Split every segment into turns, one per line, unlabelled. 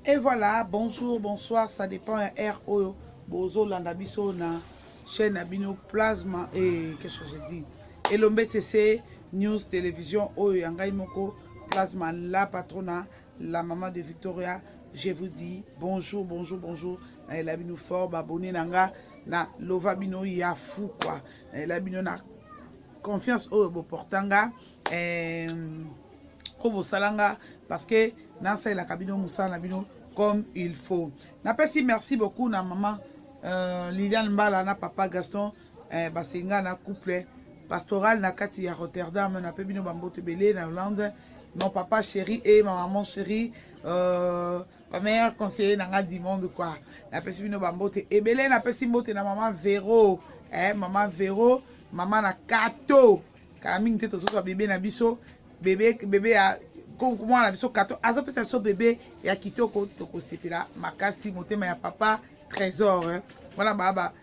Et voilà, bonjour, bonsoir, ça dépend ya heure oyo bozolanda biso na chaîne na bino plasma et qu'est-ce que je dis elombe sese news télévision oyo ya ngai moko plasma la patrona la maman de victoria je vous dis bonjour bonjour bonjour nayela bino fort baabonne na nga na lova bino ya fou kua nayela bino na confiance oyo boporta nga eh, ko bosala nga parce que nasalelaka bino mosala na bino comme il faut napesi merci beaucoup na mama euh, liliane mbala na papa gaston eh, basenga na couple pastoral na kati ya rotterdam nape bino bamboto ebele na hollande mon papa chéri et ma maman chérie euh, ma meilleure conseiller na nga du monde quoi napesi bino bambote ebele napesi mbote na mama vero eh, mama vero mama na kato kala mingi te tozozwa bebe na biso bebe bebe ya mwana na biso kato azopesa biso bebe ya kitoko tokosepela makasi motema ya papa trésor eh. wana baa ba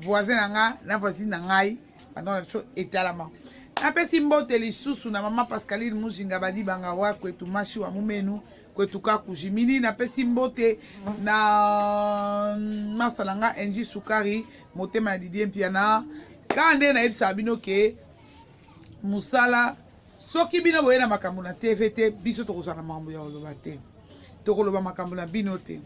voisin na nga na voisine na ngai bandako na biso etalama napesi mbote lisusu na mama pascaline muzinga badibanga wakwetu masi wa mumenu kwetu kaku jimini napesi mbote na masa na nga enji sukari motema ya didie mpiana kaka nde nayebisaka bino ke mosala soki bino boye na makambo na tv te biso tokozala na makambo ya koloba te tokoloba makambo na bino te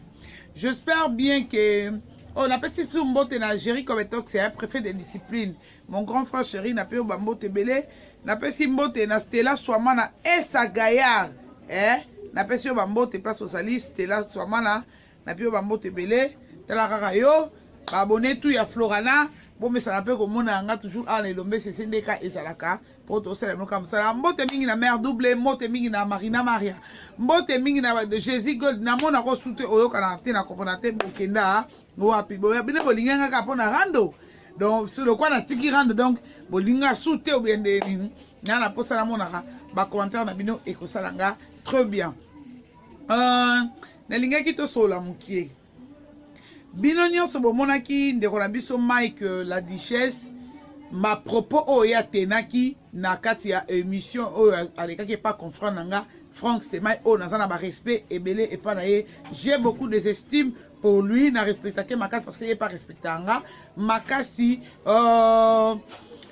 j'espère bien ke oyo oh, napesi tu mbote na géri cobetox ya prefet de discipline Mon grand frère chéri na peo ba mbote ebele napesi mbote na Stella Swamana Esa Gaillard eh napesi yo ba mbote place ozali Stella Swamana na peo ba mbote ebele tala kaka yo ba abonné tout ya Florana bomesana mpe komona yanga toujours awa na elombe sese nde ka ezalaka mpo tosala yango kaka mosala mbote mingi na mare double mbote mingi na marina maria mbote mingi na jésus gold namona ko sute oyokanaka te na kopona te bokenda wapi boya bino bolingi yanga kaka mpo na rando donc si lokola natiki rando donc bolinga su te obie nde nini nga na mposa namonaka bacommentaire na bino ekosala nga très bien uh, nalingaki tosolola mokie bino nyonso bomonaki ndeko na biso mike euh, la duchesse ma propos oyo atenaki na kati ya émission oyo alekaki epa confrant na nga frank stemai oyo naza na barespect ebele epa na ye j'ai beaucoup des estimes pour lui na respectake makasi parce que ye pa respecta nga makasi euh,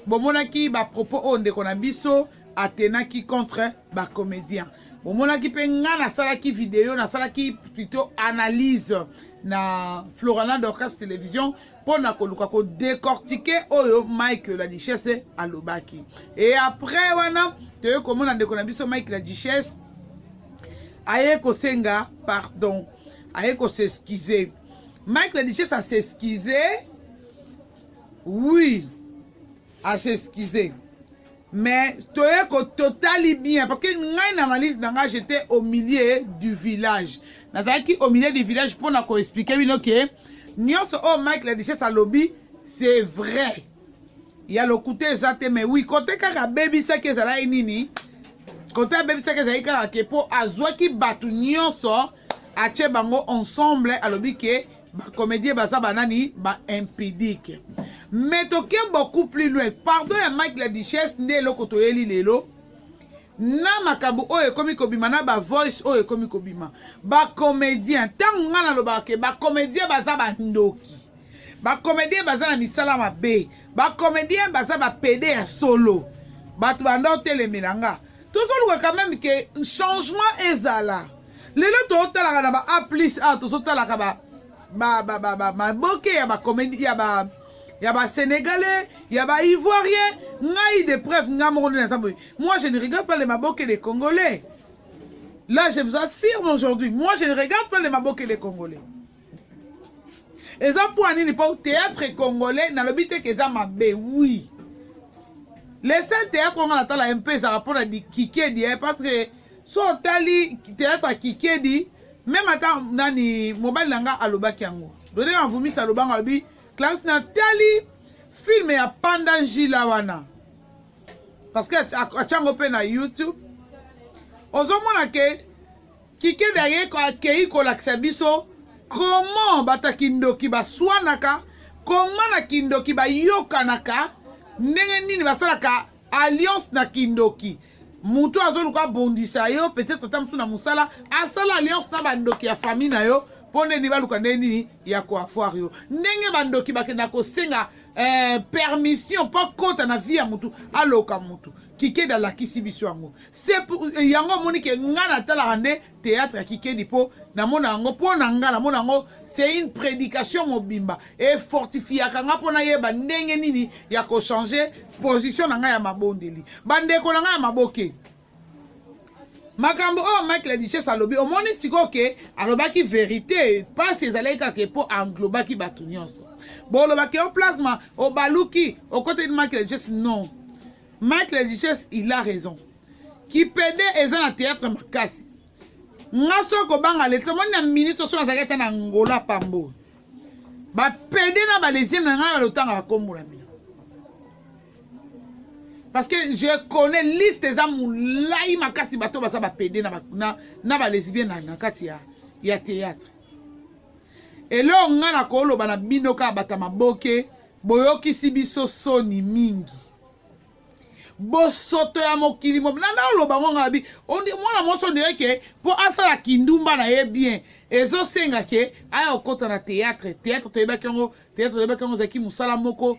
bomonaki bapropos oyo ndeko na biso atenaki contre bacomédien bomonaki mpe ngai nasalaki video nasalaki plutôt analyse na florana dorcas télévision mpo na koluka kodecortike oyo mike la duchesse alobaki e après wana toyei komona ndeko na biso mike la duchesse aye kosenga pardon aye ko s'excuser Mike la Duchesse a s'excuser oui a s'excuser mais toye ko totali bien parce que ngai na analyse na ngai j'étais au milieu du village nazalaki au milieu du village mpo na koexplike bino ke nyonso oyo oh, mike la duchesse alobi c'est vrai ya lokuta eza te mais oui kote kaka abebisaki ezalaki nini kote abebisaki ezalaki kaka ke mpo azwaki bato nyonso atie bango ensemble alobi ke bacomédien baza banani ba impidique mais toke beaucoup plus loin pardon ya mike la duchesse nde eloko toyeli lelo na makambo oyo ekomi kobima na bavoice oyo ekomi kobima bacomédien ntango ngai nalobaka ke bacomédien baza bandoki bacomédien baza na misala mabe bacomédien baza bapede ya solo bato banda otelemela nga tozoluka quand même ke changement ezala lelo totalaka na ba a plus awa tozotalaka ba maboke ya bacomédie ya ba ya basénégalais ya baivoirien ngai de preuve ngai moko nde naza boye moi je ne regarde pas les maboke les congolais là je vous affirme aujourd'hui moi je ne regarde pas les maboke les congolais eza mpo ya nini mpo théâtre congolais nalobi te ke eza mabe wi le seul théâtre onga natala ye mpe ezalaka mpo na kikedi eh, parce que so otali théâtre ya kikedi meme ata nani mobali na nga alobaki yango dode mavumisi alobanga alobi classe natali filme ya panda njila wana parce que atyango mpe na youtube ozomona ke Kikedi ayeko akeyi kolakisa biso comment bato ya kindoki baswanaka koma na kindoki bayokanaka ndenge nini basalaka alliance na kindoki moto azoluka abondisa yo peut-être ata mosusu na mosala asala alliance na bandoki ya famille na yo mpo nde nini baluka ndenge nini ya koavoir yo ndenge bandoki bakenda kosenga eh, permission mpo akota na vie ya motu aloka motu kikedi alakisi biso yango se eh, yango omoni ke ngai natalaka nde théâtre ya kikedi mpo namona yango mpo na ngai namona yango c'est une prédication mobimba efortifiaka ngai mpo nayeba ndenge nini ya kochange position na ngai ya mabondeli bandeko na ngai ya maboke makambo oyo mike ladiches alobi omoni sikoyo ke alobaki verité mpasi ezalaki kaka mpo anglobaki bato nyonso bolobaki yo plasma obaluki okotaki mike ladiches non mike ladiches il a raison kipede eza na théâtre makasi nga so kobanga leta omoni na minute oso nazalaki ata na angola pambo bapede na balesieme na ngai balotanga bakombolami parce que je connais liste eza molai makasi bato baza bapede na, na, na balesbien na, na kati ya, ya théâtre eloo ngai nakoloba na bino kaka bata maboke boyokisi biso soni mingi bosoto ya mokili mobina naoloba ngo ngai nabi mwana mwasi oyo ndeyeke mpo asala kindumba na ye bien ezosenga ke aya kokota na théâtre théâtre toyebaki yango théâtre toyebaki yango ezalaki mosala moko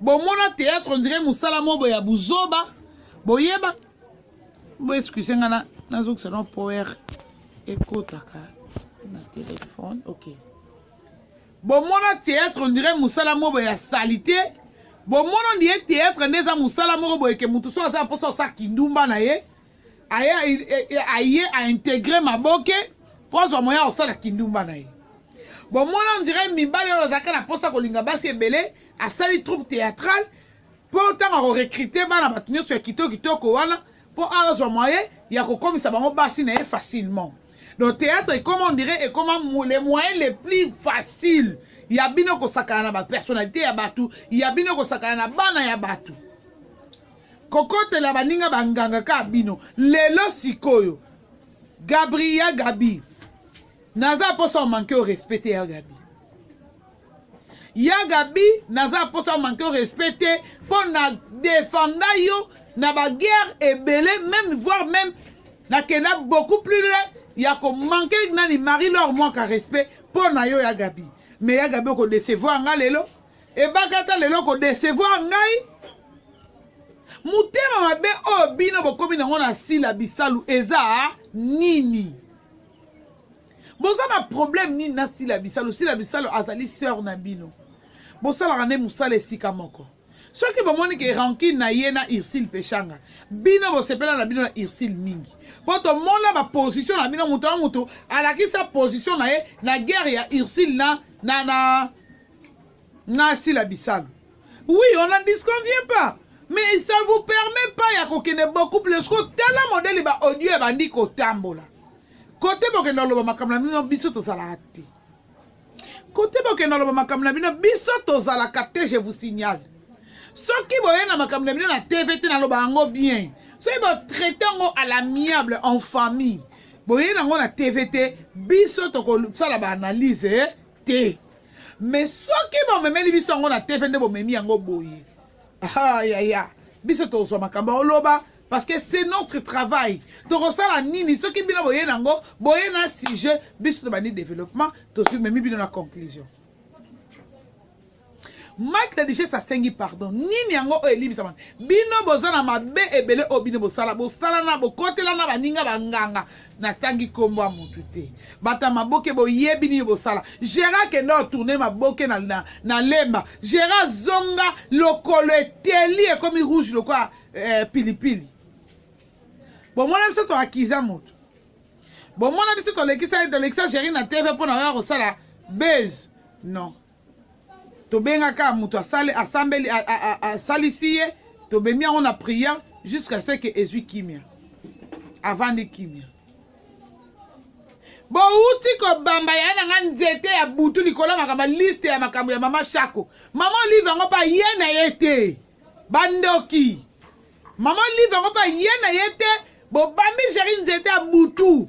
bomona théâtre on dirait mosala mobo ya buzoba boyeba boexcuse nga na nazokisa no power ekotaka na telefone ok bomona théâtre on dirait mosala mobo ya salite bomona ndiye théâtre nde eza mosala moko boyeke motu so aza mposa osala kindumba na ye aye aye a integre maboke mpo azwa moya kosala kindumba na ye bomona ondire mibali oyo azalaka na mposa kolinga basi ebele asali troupe théâtrale mpo ntango akorekrite bana bato nyonso ya kitoko kitoko wana mpo azwa moye ya kokomisa bango basi na ye facilement donc théâtre ekoma ondire ekoma le moyen le plus facile ya bino kosakana na bapersonnalité ya bato ya bino kosakana na bana ya bato kokotela baninga banganga kaka bino lelo sikoyo gabri ya gabi naza mposa omanke o respecte ya gabi ya gabi naza mposa omanke o respect te mpo na defenda yo na baguerre ebele même voire même nakenda beaucoup plus loin ya komanke nani marie lor mwaka respect mpo na yo ya gabi mais ya gabi okodecevoir nga lelo ebakata lelo ko decevoir ngai motema mabe oyo bino bokomi nango na sila bisalu eza nini boza na problème nini na sila bisalu sila bisalu azali sœur na bino bosalaka nde mosala esika moko soki bomoni ke rankine na ye na ursile peshanga bino bosepela na bino na ursile mingi mpo tomona baposition na bino moto na moto alakisa position na ye na guerre ya ursile na, na, na nga sila bisalu oui on n'en disconvient pas mais ça vous permet pas ya kokende beaucoup plus ko tala modele ba audio ya bandi kotambola kote bokende oloba makambo na bino biso tozalaka te kote bokende oloba makambo na bino biso tozalaka te je vous signale soki boye na makambo na bino na tv te naloba yango bien soki botraite yango à l'amiable en famille boye nango na tv te biso tokosala baanalyse eh, te me soki bomemeli biso yango na tv nde bomemi yango boye ah, ya ya biso tozwa makambo oloba parce que c'est notre travail tokosala nini soki bino boye nango boye na sujet biso tobandi développement tozimemi bino na conclusion mike la duchesse asengi pardon nini yango oyo elimbisama bino boza na mabe ebele oyo bino bosala bosalana bokotelana baninga banganga natangi nkombo ya motu te bato ya maboke boyebi nini bosala gera kende otourne maboke na, na, na lemba gera zonga lokolo eteli ekomi rouge lokola eh, pilipili bomona biso toakiza motu bomona biso tolekisa tolekisa geri na tv mpo na oya kosala base non tobengaka moto asali asambeli asalisi ye tobemi yango na prière jusqu'à ce que ezwi kimia avandi kimia bowuti kobamba ya na nga nzete ya butu likolo ya makambo liste ya makambo ya mama shako mama olive yango mpa ye na ye te bandoki mama olive yango mpa ye na ye te bobambi jeri nzete ya butu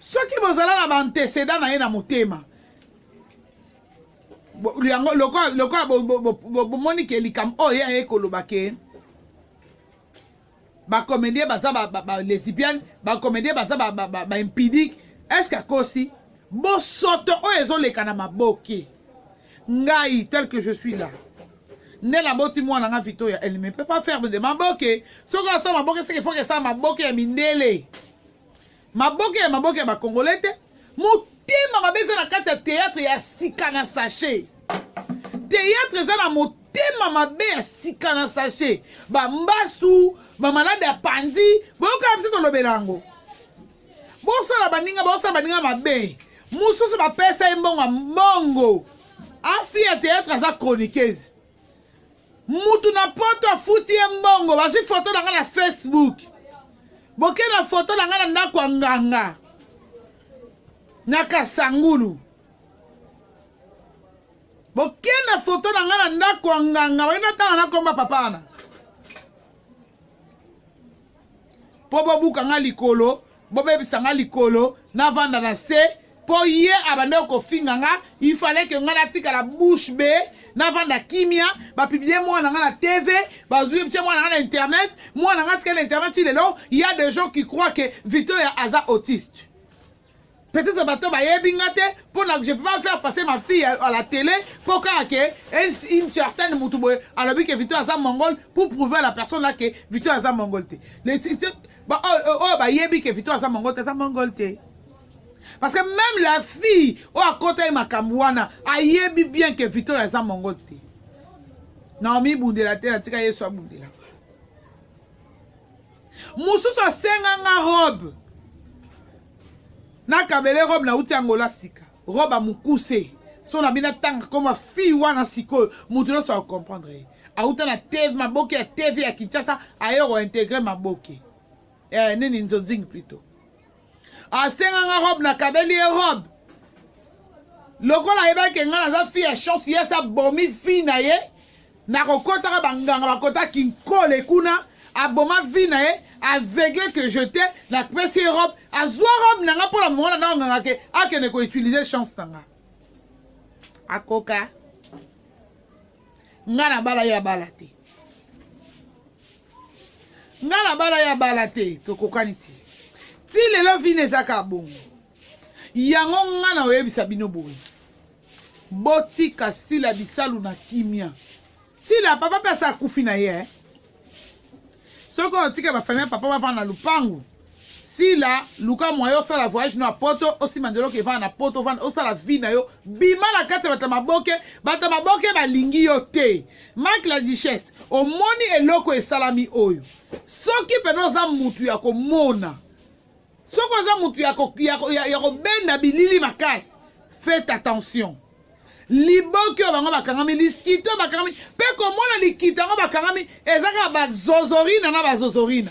soki bozala na baantecedent na ye na motema yango lokola bomoni ke likambo oyo ye aye koloba ke bacomédien baza balesibiane bacomédien baza baimpidique est ce que akosi bosoto oyo ezoleka na maboke ngai tel que je suis là nde naboti mwana nga vito ya elle ne peut pas faire de maboke soki asala maboke seke foke esala maboke ya mindele Maboke ya maboke ya ba congolais te. Motema mabe eza na kati ya théâtre ya sika na sachet. Théâtre eza na motema motema mabe ya sika na sashe bambasu bamalade ya panzi boyokaa biso tolobela yango bosala baninga bosala baninga mabe mosusu bapesa ye mbongo ya mbongo afi ya théâtre aza chroniqueuse mutu na poto afuti ye mbongo bazwi foto na ngai na facebook boke na foto na ngai na ndako ya nganga na kasangulu boke na foto na ngai na ndako ya nganga baina tanga na komba papa wana mpo bobuka nga likolo bobebisa nga likolo navanda na se mpo ye abandaki kofinga nga ifale ke nga natikala bouche be navanda kimia bapiblie mwana nga na tv bazwi btie mwana nga na internet mwana nga atikali na internet ti lelo ya de gens qui croit ke victoria aza autiste peut-être bato bayebi nga te mpo na je peux pas faire passer ma fille à la télé mpo kaka ke une certaine motu boye alobi ke victoire aza mongol pour prouver à la personne là ke victoire aza mongol te oyo bayebi ke victoire aza mongol te aza mongol te parce que même la fille oyo akota ye makambo wana ayebi bien ke victoire aza mongol te naomi bundela te natika yesu abundela mosusu asenga nga robe nakabele robe nauti yango la sika robe amokuse so na bino atanga koma fille wana sikoyo moto nyonso akokomprendre ye auta na tv maboke ya tv ya kinshasa aye kointegre maboke eh, nini nzonzingi plutôt asenga nga robe nakabeli ye robe lokola ayebaki enga naza fi ya chance ye asi abomi fi na ye nakokotaka banganga bakota kinkole kuna aboma vi na ye aveugle que je te napesi ye robe azwa robe na nga mpo na mongana na onganga ke akende koutilize chance na nga akoka nga nabala ye abala te nga na bala ya bala te tokokani te ti lelo vina eza kaka bongo yango nga na oyebisa bino boye botika sila bisalu na kimia sila papa mpe asa akufi na ye eh? soki otika bafamia papa bafanda na lupangu sila luka moyen osala voyage no ya poto osimba nzela oke vana na poto vana osala vie na yo bima na kati ya bato ya maboke bato ya maboke balingi yo te mak la duchesse omoni eloko esalami oyo soki mpena oza mutu ya komona soki oza mutu ya, ko, ya, ya, ya kobenda bilili makasi faites attention liboki oyo bango bakangami liskito oyo bakangami mpe komona likita yango bakangami eza kaka bazozorina na bazozorina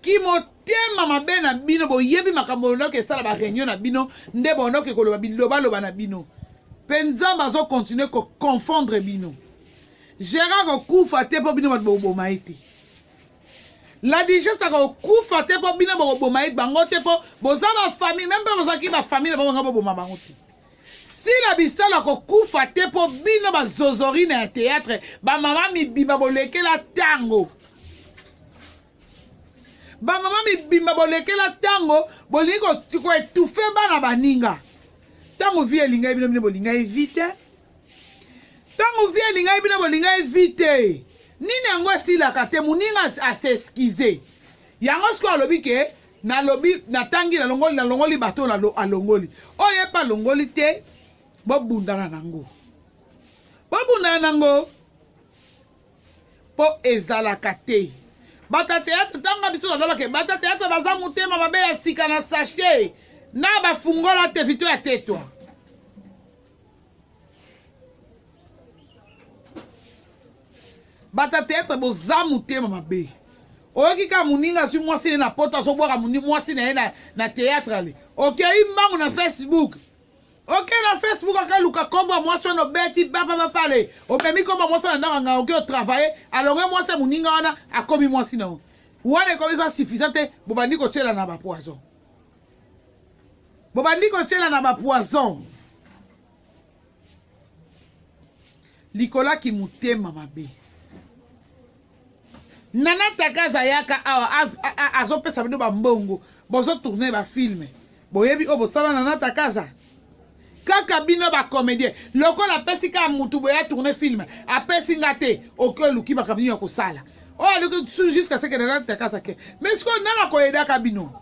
kimotema mabe na bino boyebi makambo bondoki esala bareunion na bino nde bondoki koloba bilobaloba na bino mpe nzambe azokontinue koconfondre bino gérard okufa te mpo bino bato boboma ye te la digence akokufa te mpo bino bokoboma ye bango te mpo boza bafamille meme mpe bozalaki bafamille na bango banga boboma bango te sila bisala kokufa te mpo bino bazozorina ya théâtre bamama mibimba bolekela ntango bamama mibimba bolekela ntango bolingi koetufe bana baninga ntango vi elingai bino bino bolingai vi te ntango vi elingai bino bolingai vi te nini yango esilaka te moninga aseskize yango sikoyo alobi ke nalobi natangi nalongoli nalongoli bato oyo alongoli oyo epa alongoli te bobundana nango bobundana nango mpo ezalaka te bata teatre ntango biso nalobake bata teatre baza motema mabe ya sika na sachet na bafungola te vito ya tetwa bata teatre boza motema mabe oyoki kaka moninga azwi mwasi ne na poto azobwaka mwasi na ye na, na teatre ale okei mbangu na facebook oke na facebook akaluka kombo ya mwasi wana obeti baba bapale opemi kombo ya mwasi wana ndako anga oke otravaille alonge mwasi ya moninga wana akomi mwasi na yo wana ekomi eza suffisant te bobandi kotyela na bapoison bobandi kotyela na bapoison likola kimotema mabe nana takaza ayaka awa azopesa bino bambongo bozotourne bafilme boyebi oyo bosala nana takaza kaka bino ba comédien lokola apesi kaka mutu boye atourne film apesi nga te oke oluki makambo nini ya kosala oyo oh, aluki su jusqu'à ce que nana takasa ke mais sikoyo nana koyedaka bino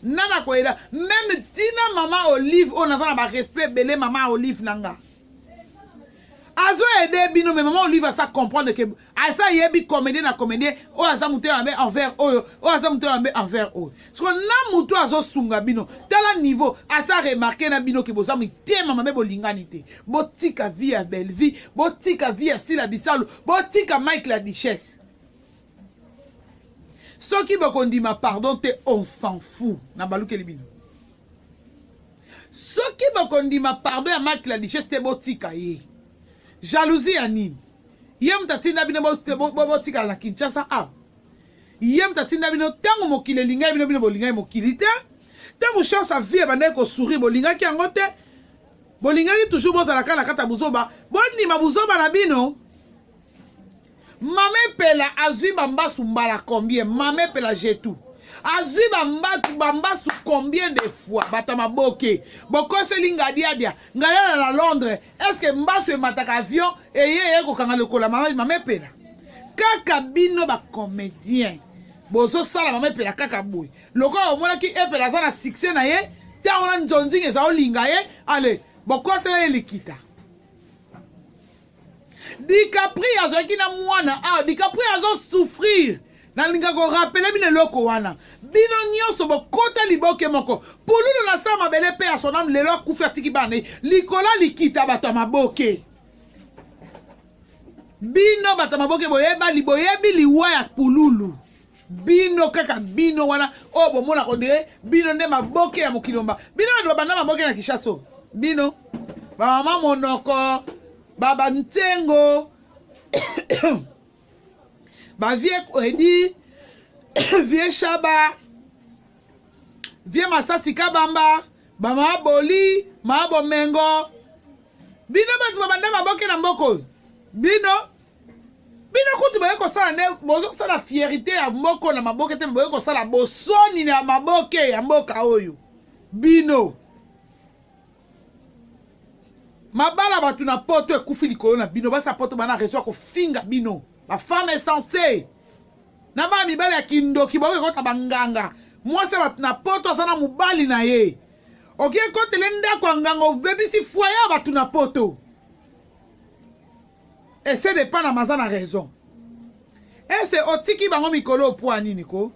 nana koyeda meme tina mama olive oyo oh, naza na barespect ebele mama olive na nga azo ede bino mais mama olive asa comprendre ke aza yebi comédien na comédien oyo aza moto ya mabe envers oyo oyo aza moto ya mabe envers oyo soko na moto oyo azosunga bino tala niveau aza remarke na bino ke boza mitema mabe bolingani te botika vie ya bellevie botika vie ya sila bisalu botika mike la duchesse soki bokondima pardon te on s'en fou na balukeli bino soki bokondima pardon ya mike la duchesse te botika ye jalousie ya nini ye moto atinda bino botikala na kinshasa a ye moto atinda bino ntango mokili elingai bino bino bolingai mokili te ntango chance ya vie ebandaki kosourire bolingaki yango te bolingaki toujours bozalaka na kati ya buzoba bondima buzoba na bino mama epela azwi bambasu mbala combien mama epela jetu azwi bambasu bambasu combien de fois bata maboke bokoseli ngadiadia ngadiadia na londres est ce que mbasu emataka avion eye eye kokanga lokola mama mama epela kaka bino bacomédien bozosala mama epela kaka boye lokola omonaki epela aza na succès na ye ntango na nzonzinga eza olinga ye ale bokotela ye likita dicapri azalaki na mwana awa ah, dicapri azosouffrir Nalinga ko rappeler bino eloko wana. Bino nyonso bokota liboke moko. Pululu na sa mabele mpe ya sonam lelo akufi atiki bana likolo likita bato ya maboke. Bino bato ya maboke boyebali boyebi liwa ya pululu. bino kaka bino wana oyo bomona kondire bino nde maboke ya mokili mba bino bato babanda maboke na kishaso bino bamama monoko babantengo ba vieux Edi vieux Shaba vieux Masasi Kabamba ba mama Boli mama Bomengo bino bato babanda maboke na mboka oyo bino bino kutu boye kosala nde bozosala fierité ya moko na maboke te boye kosala bosoni na maboke ya mboka oyo bino mabala bato na poto ekufi likolo na bino basi ya poto bana rezo ya kofinga bino bafemme esense na bana mibali ya kindoki baoki ekota banganga mwasi ya bato na poto aza na mobali na ye oki ekotele ndako ya nganga obebisi fwaye ya bato na poto ese de pana maza na raison ese otiki bango mikolo opwa nini ko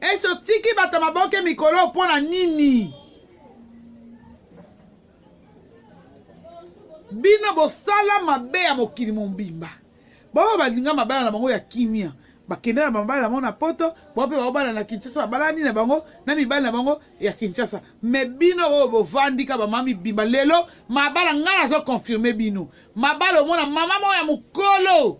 esi otiki bato ya maboke mikolo mpo na nini bino bosala mabe ya mokili mobimba baoyo balinga mabala na bango ya kimia bakenda na mabala na bango na poto bango mpe baobala na kinshasa babalani na bango na mibali na bango ya kinshasa me bino oyo bovandika bamama mibimba lelo mabala ngai nazokonfirme bino mabala omona mama moko ya mokolo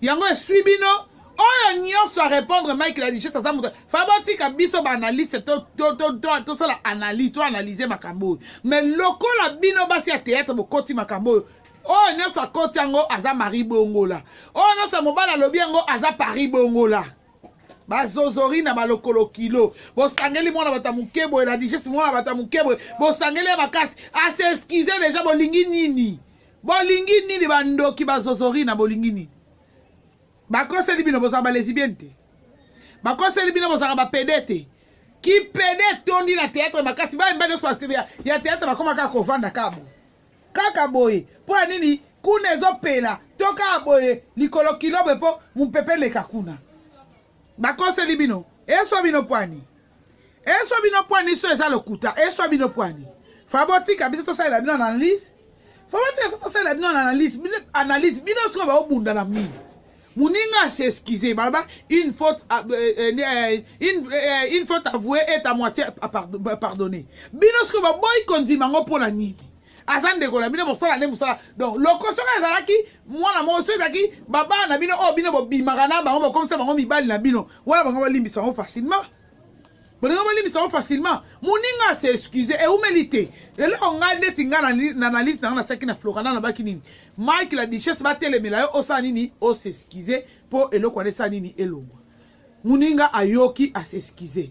Yango eswi bino oyo nyonso a répondre Mike la richesse aza moto fabotika biso ba analyste to to to to tosala analyse to analyse makambo oyo mais lokola bino basi ya théâtre bokoti makambo oyo oyo nyonso akoti yango aza mari bongola oyo nyonso mobali alobi yango aza pari bongola bazozori na balokolo kilo bosangeli mwana bato ya moke boye la digeste mwana bato ya moke boye bosangeli ya makasi aseskize deja bolingi nini bolingi nini bandoki bazozorina bolingi nini bakoseli bino bozala balesibienne te bakoseli bino bozalaka bapede te kipede etondi na teatre makasi bayemba nyonso ya teatre bakoma kaka kovanda kabo kaka boye mpo ya nini kuna ezopela to kaka boye likolo kilobe mpo mopepe eleka kuna bakoseli bino eswa bino pwani eswa bino pwani so eza lokuta eswa bino pwani fa botika biso tosalela bino analyse fa botika biso tosalela bino analyse bino analyse bino sikoyo baobunda na mini moninga asi excuse baloba une faute euh, euh, euh, une, une faute avouée est à moitié pardonnée bino sikoyo baboyi kondima yango mpo na nini aza ndeko na bino bosala nde mosala donc loko soki azalaki mwana moko soki ezalaki babana na bino oyo bino bobimaka na bango bokomisa bango mibali na bino wana bango balimbisa yango facilement bolingo bolimbisa yango facilement moninga ase excuse eumeli te eloko ngai ndeti ngai na analyse na ngai nasaki na florana nabaki nini mike la duchesse batelemela yo osala nini osexcuse mpo eloko wana esala nini elongwa moninga ayoki asexcuse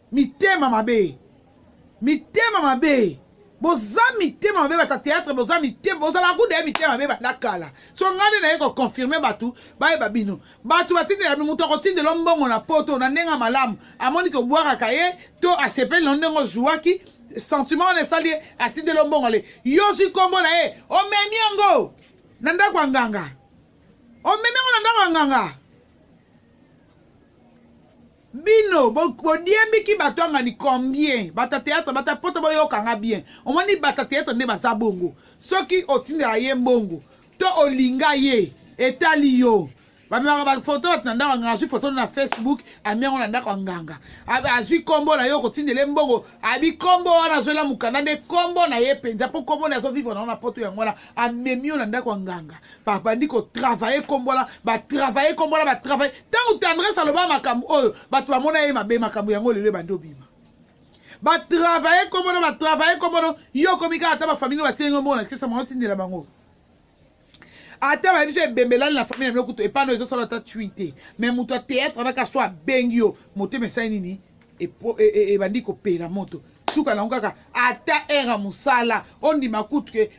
mitema mabe mitema mabe boza mitema mabe bata théâtre boza mitema bozala kuda ya mitema mabe banda kala so ngai nde naye koconfirme bato bayeba bino bato batindela moto akotindela mbongo na poto na ndenge ya malamu amoni kobwakaka ye to asepeli na ndenge ozuwaki sentiment wana esali ye atindela mbongo ale yo ozwi nkombo na ye omemi yango na ndako ya nganga omemi yango na ndako ya nganga bino bodiembiki bato angani combien bata théâtre bata poto boyokanga bien omoni bata théâtre nde baza bongo soki otindela ye mbongo to olinga ye etali yo bamemaka bafoto bato na ndako anganga azwi foto na facebook ami yango na ndako anganga azwi nkombo na yo okotindele mbongo abi nkombo wana azwela mokanda nde nkombo na ye mpenza mpo nkombo na azovivre nango na poto yango wana amemi yo na ndako ya nganga babandi kotravaye nkombo wana batravaye nkombo wana batravaye ntango tendresse aloba makambo oyo bato bamona ye mabe makambo yango lelo ebandi obima batravaye nkombo no batravaye nkombo no yo okomi kaka ata bafamili batieli ngo mbona kisa mwana otindela bango ata bayebi so ebembelani na famille na bino kutu epano ezosala ata cui te mais moto ya théâtre anaka so abengi yo motema esali nini ebandi kopela moto suka nango kaka ata heure ya mosala ondima kutu ke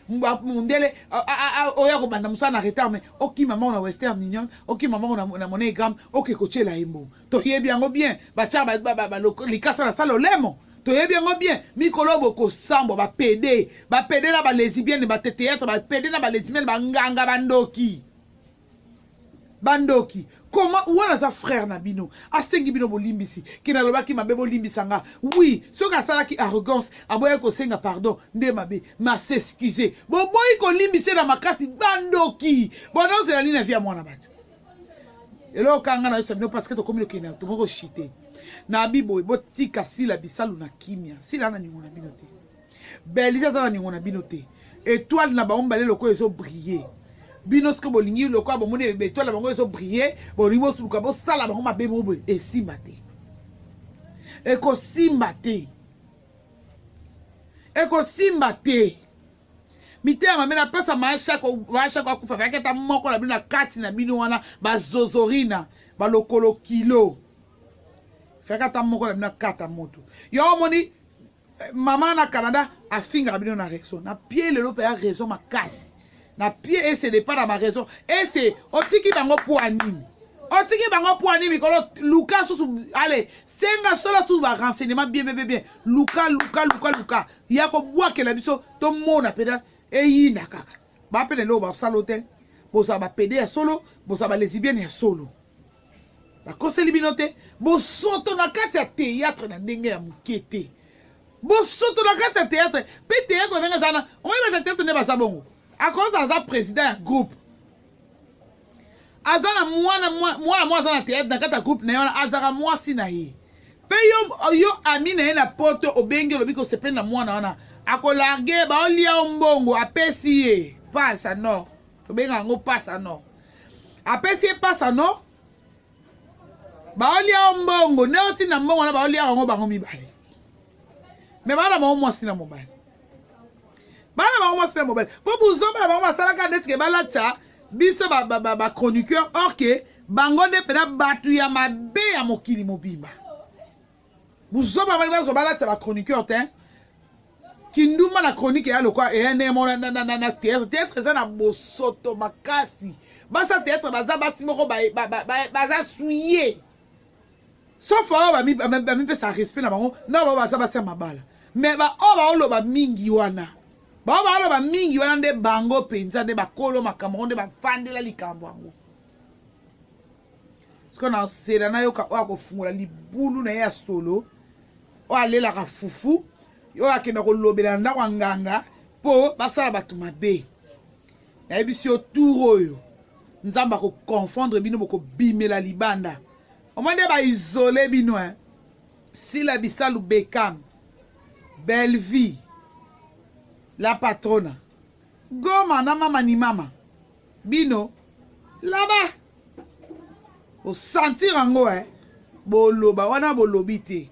mundele oya kobanda mosala na retard mai okima mbango na western union okima mbango na monegram oke kotyela ye mbongo toyebi yango bien batya likasa na sala olemo toyebi yango bien mikolo bokosambwa bapede bapede na balesibienne bateteatre bapede na balesibienne banganga bandoki bandoki koma wana aza frère na bino asengi bino bolimbisi ke nalobaki mabe bolimbisa nga wi soki asalaki arrogance aboyaki kosenga pardon nde mabe ma s'excuse boboyi kolimbisa na makasi bandoki bonozela nini na vi ya mwana bato eloko kanga na yosa bino parceke tokomi lokende tokomi koshite na biboye botika sila bisalu na kimia sila na ningo na bino te belge aza na ningo na bino te etoile na bango mibale lokola ezo brille bino soki bolingi lokola bomoni etoile na bango ezo brille bolingi bosuluka bosala bango mabe moko boye esimba te ekosimba te ekosimba te mitema mabe napesa maashako maashako akufa kayaki ata moko na bino na kati na bino wana bazozorina balokolo kilo fayaki ata moko na bino akata moto yo omoni Eh, mama na Canada afingaka bino na raison. Na pied lelo pe ya raison makasi. Na pied et c'est pas na ma raison. Et c'est otiki bango pour anime. otiki bango mpo ani mikolo luka susu ale senga sola susu barenseignement bien bien bien luka luka luka luka ya kobwakela biso tomona mpenza eyina kaka bapene leo basalo te bozala bapede ya solo bozala balesibienne ya solo bakoseli bino te bosoto na kati ya théâtre na ndenge ya moke te bosoto na kati ya théâtre mpe théâtre ndenge eza na omoni bata théâtre nde baza bongo akoza aza président ya groupe aza na mwana mwana mwa aza na théâtre na kati ya groupe na ye wana azalaka mwasi na ye mpe yo yo ami na ye na poto obengi olobi kosepeli na mwana wana akolarge baolia yo mbongo apesi ye pasa nord tobengaka yango pasa nord apesi ye pasa no baolia yo mbongo nde otinda mbongo na baolia yango bango mibale me bana bango mwasi na mobali bana bango mwasi na mobali mpo buzoba na bango basalaka nde tike balatisa biso bachroniqueur ba, ba, ba or ke bango nde mpena bato ya mabe ya mokili mobimba buzoba balingi bazwa balatisa ba chroniqueur te kindumba na chronique eya lokwa eya neye mona na theatre theatre eza na bosoto makasi basa theatre baza basi moko baza suye sauf oyo bamipesa respect na bango na bao baza basi ya mabala me baoyo baoloba mingi wana bao baoloba mingi wana nde bango mpenza nde bakolo makambo yango nde bafandela likambo yango sikoyo na nsela nayoka oyo akofungola libulu na ye ya solo oyo alelaka fufu oyo akenda kolobela na ndako ya nganga mpo basala bato mabe nayebisi yo tour oyo nzambe akoconfondre bino bokobimela libanda omo nde baisole bino e sila bisalu bekam bellevie la patrona goma na mama ni mama bino laba osentir yango eh? boloba wana bolobi te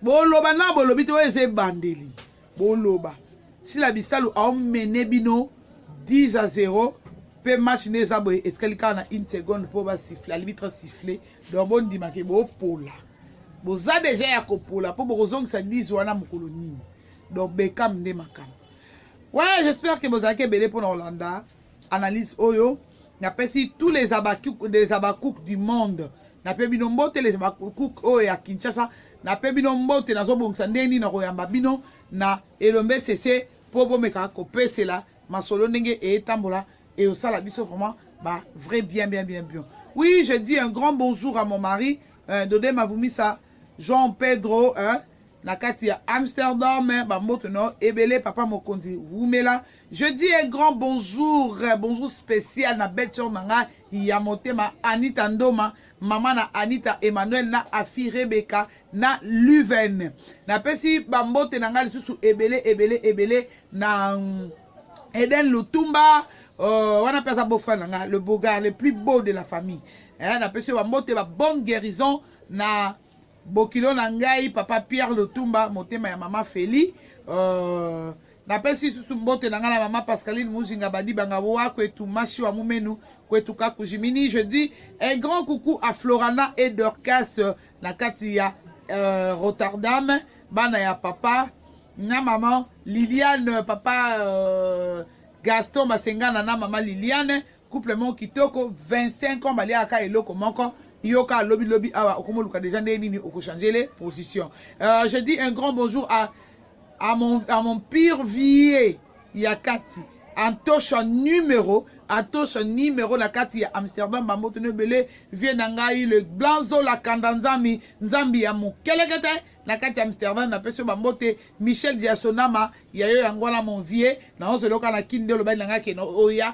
boloba na bolobi te oyo eza ebandeli boloba sila bisalu aomene bino 10 à 0 mpe match nde eza boye etikali kaka na une seconde mpo basifle alibitre sifle donc bondimake bopola boza deja ya kopola mpo bokozongisa 10 wana mokolo nini donc bekam nde makambo Ouais, j'espère que bozalaki ebele mpo na kolanda analyse oyo. Napesi tous les Habacuc, les Habacuc du monde. Nape bino mbote les Habacuc oyo ya Kinshasa. Nape bino mbote nazobongisa ndenge nini nakoyamba bino na elombe sese mpo bomeka kopesela masolo ndenge etambola et au sala biso vraiment bah vrai bien bien bien bien oui je dis un grand bonjour à mon mari euh, Dodé Mavumisa Jean Pedro hein na kati ya amsterdam bamboto na yo ebele papa mokonzi wumela je dis un grand bonjour bonjour spécial na belle sœur na nga ya motema anita ndoma mama na anita emmanuel na afi rebeka na luven napesi bambote na nga lisusu ebele ebele ebele na mm, eden lutumba euh, wana mpe aza bofra na nga le beaugar le plus beau de la famille eh, napesi yo bambote ba bonne guérison na bokilo na ngai papa pierre lotumba motema ya mama feli uh, napesi susu mbote na ngai na mama pascaline mujinga badibanga wa kwetu mashi wa mumenu kwetu kakujimini je dis un grand coucou à florana et dorcas euh, na kati ya uh, rotterdam bana ya papa na mama liliane papa uh, gaston basengana na mama liliane couple moko kitoko 25 ans baliaka kaka eloko moko yo kaka lobi lobi awa okomoluka deja ndenge nini okochangele position euh, je dis un grand bonjour à, à, mon, à mon pire vie ya kati antosha numero antosha numero na kati ya amsterdam bamboto no ebele vie na ngai le blanzo la kanda nzambi nzambi ya mokelekete na kati ya amsterdam napesi yo bambote michel diasonama ya yo yango wana mon vie naozo eloka na kini nde olobaki na ngai keno oya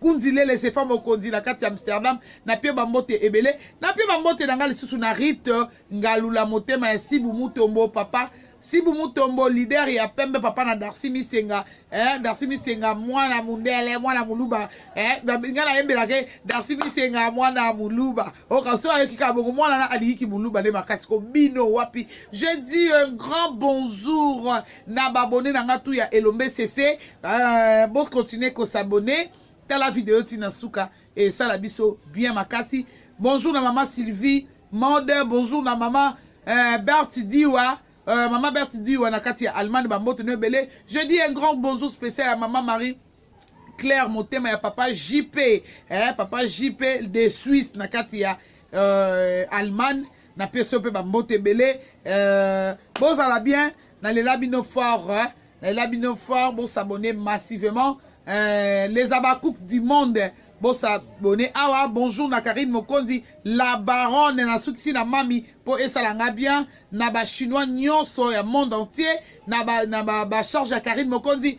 Kunzi Lele Zefa Mokonzi na kati ya Amsterdam na pie bambote ebele na pie bambote na nga lisusu na Rite Ngalula motema ya Sibu Mutombo papa Sibu Mutombo leader ya pembe papa na Darcy Misenga eh, Darcy Misenga mwana mundele mwana muluba eh, nga nayembelaka ye Darcy Misenga mwana muluba okaso oh, ayoki kaka bongo mwana na aliyiki muluba nde makasi ko bino wapi je dis un grand bonjour na ba abonne na nga tout ya elombe sese euh, bo continuer ko s'abonner tala video ti na suka et ça la biso bien makasi bonjour na maman Sylvie mode bonjour na maman euh, Berti Diwa euh, maman Berti Diwa na kati ya Allemagne ba mbote no ebele je dis un grand bonjour spécial à maman Marie Claire motema ya papa JP eh, papa JP de Suisse na kati ya euh, Allemagne na peso pe ba mbote belé euh, bozala bien na lela bino fort eh, na lela bino fort bo s'abonner massivement euh, les abakouk du monde bo s'abonner awa bonjour na Karine Mokonzi la baronne na sukisi na mami po esala nga bien na ba chinois nyonso ya monde entier na ba na ba, ba charge ya Karine Mokonzi